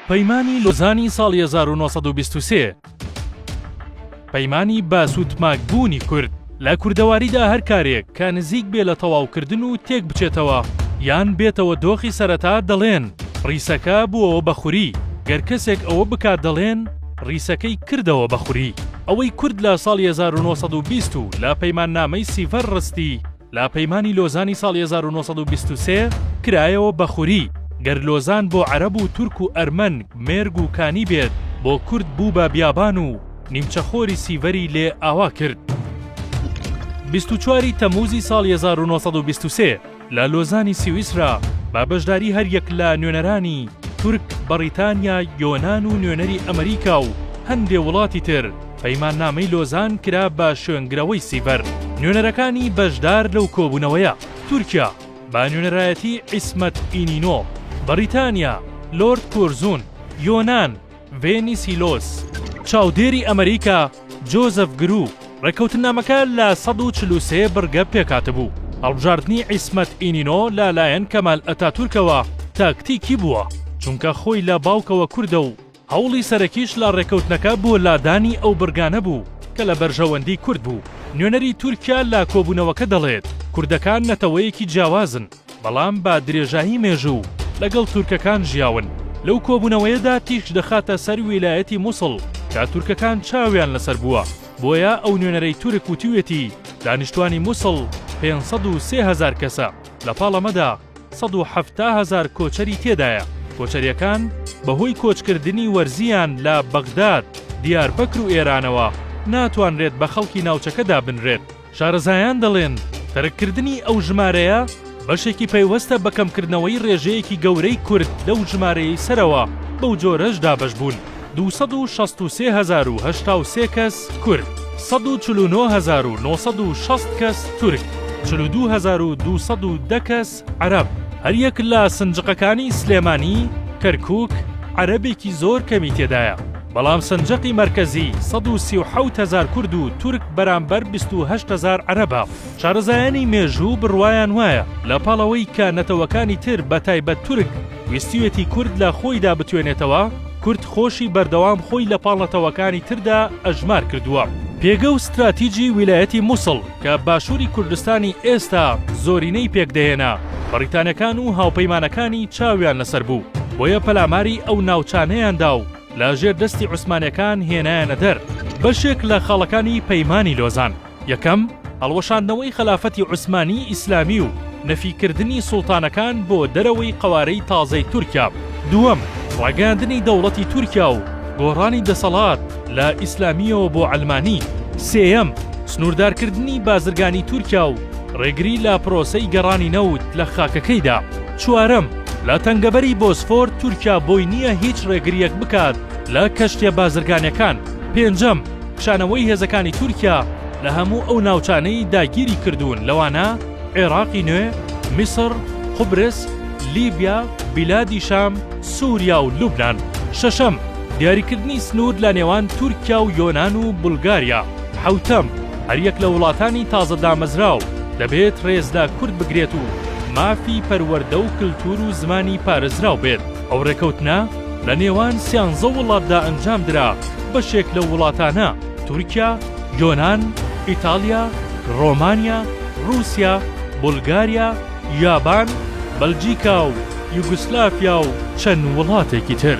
پەیمانی لۆزانی ساڵی هەزار و نۆ سەد و بیست و سێ پەیمانی بە سوتماک بوونی کورد لە کوردەواریدا هەر کارێک کە نزیک بێ لە تەواوکردن و تێک بچێتەوە یان بێتەوە دۆخی سەرەتا دەڵێن ڕیسەکە بووەوە بە خوری گەر کەسێک ئەوە بکات دەڵێن ڕیسەکەی کردەوە بە خوری ئەوەی کورد لە ساڵی هەزار و نۆ سەد و بیست و لە پەیماننامەی سیڤەر ڕستی لە پەیمانی لۆزانی ساڵی هەزار و نۆ سەد و بیست و سێ کرایەوە بە خوری، گەر لۆزان بۆ عەرەب و تورک و ئەرمەن مێرگ و کانی بێت، بۆ کورد بوو بە بیابان و نیمچە خۆری سیڤەری لێ ئاوا کرد. بیست و چوار ی تەمووزی ساڵی هەزار و نۆ سەد و بیست و سێ لە لۆزانی سویسرا بە بەشداری هەر یەک لە نوێنەرانی، تورک، بەڕیتانیا، یۆنان و نوێنەری ئەمریکا و هەندێ وڵاتی تر، پەیماننامەی لۆزان کرا بە شوێنگرەوەی سیڤەر. نوێنەرەکانی بەشدار لەو کۆبوونەوەیە، تورکیا بە نوێنەرایەتیی عیسمەت ئینینۆ، بەڕیتانیا لۆرد کۆرزون، یۆنان ڤێنی سیلۆس، چاودێری ئەمریکا جۆزەف گرو، ڕێککەوتننامەکە لە سەد و چل و سێ بڕگە پێکهاتبوو، هەڵبژاردنی عیسمەت ئینینۆ لەلایەن کەمال ئەتاتورکەوە تاکتیکی بووە، چونکە خۆی لە باوکەوە کوردە و هەوڵی سەرەکیش لە ڕێکەوتنەکە بۆ لادانی ئەو بڕگانە بوو کە لە بەرژەوەندی کورد بوو. نوێنەری تورکیا لە کۆبوونەوەکە دەڵێت، کوردەکان نەتەوەیەکی جیاوازن، بەڵام بە درێژایی مێژوو لەگەڵ تورکەکان ژیاون. لەو کۆبوونەوەیەدا تیشک دەخاتە سەر ویلایەتی موسڵ کە تورکەکان چاویان لەسەر بووە، بۆیە ئەو نوێنەرەی تورک وتویەتی دانیشتوانی موسڵ پێنج سەد و سێ هەزار کەسە، لەپاڵ ئەمەدا، سەد و حەفتا هەزار کۆچەری تێدایە، کۆچەریەکان بەهۆی کۆچکردنی وەرزییان لە بەغداد، دیاربەکر و ئێرانەوە ناتوانرێت بە خەڵکی ناوچەکە دابنرێت. شارەزایان دەڵێن تەرککردنی ئەو ژمارەیە بەشێکی پەیوەستە بە کەمکردنەوەی رێژەیەکی گەورەی کورد لەو ژمارەیەی سەرەوە، بەو جۆرەش دابەشبوون. دوو سەد و شەست و سێ هەزار و هەشتا و سێ کەس کورد، سەد و چل و نۆ هەزار و نۆ سەد و شەست کەس تورک، چل و دوو هەزار و دوو سەد و دە کەس عەرەب. هەریەک لە سنجقەکانی سلێمانی، کەرکووک، عەرەبێکی زۆر کەمی تێدایە، بەڵام سنجقی مەرکەزی سەد و سی و حەوت هەزار کورد و تورک بەرامبەر بیست و هەشت هەزار عەرەبە. شارەزایانی مێژوو بڕوایان وایە لە پاڵەوەی کە نەتەوەکانی تر بەتایبەت تورک ویستویەتی کورد لە خۆیدا بتوێنێتەوە، کورد خۆشی بەردەوام خۆی لە پاڵ نەتەوەکانی تردا ئەژمار کردووە. پێگە و ستراتیجی ویلایەتی موسڵ کە باشووری کوردستانی ئێستا زۆرینەی پێک دەهێنا، بەڕیتانیەکان و هاوپەیمانەکانی چاویان لەسەر بوو، بۆیە پەلاماری ئەو ناوچانەیان دا و لە ژێر دەستی عوسمانیەکان هێنایانە دەر بەشێک لە خاڵەکانی پەیمانی لۆزان. یەکەم، هەڵوەشاندنەوەی خەلافەتی عوسمانی ئیسلامی و نەفیکردنی سوڵتانەکان بۆ دەرەوەی قەوارەی تازەی تورکیا بوو. دووەم، ڕاگەیاندنی دەوڵەتی تورکیا و گۆڕانی دەسەڵات لە ئیسلامییەوە بۆ عەلمانی. سێیەم، سنووردارکردنی بازرگانی تورکیا و ڕێگری لە پرۆسەی گەڕانی نەوت لە خاکەکەیدا. چوارەم، لە تەنگەبەری بۆسفۆر تورکیا بۆی نییە هیچ ڕێگرییەک بکات لە کەشتییە بازرگانییەکان. پێنجەم، کشانەوەی هێزەکانی تورکیا لە هەموو ئەو ناوچانەی داگیری کردوون لەوانە عێراقی نوێ، میسڕ، قوبرس، لیبیا، بیلادی شام، سوریا و لوبنان. شەشەم، دیاریکردنی سنوور لە نێوان تورکیا و یۆنان و بولگاریا. حەوتەم، هەریەک لە وڵاتانی تازە دامەزراو دەبێت رێز لە کورد بگرێت و مافی پەروەردە و کلتور و زمانی پارێزراو بێت. ئەو رێکەوتنە لە نێوان سیانزە وڵاتدا ئەنجام درا، بەشێک لەو وڵاتانە، تورکیا، یۆنان، ئیتاڵیا، رۆمانیا، رووسیا، بولگاریا، یابان، بەلجیکا و یوگسلافیا و چەند وڵاتێکی تر.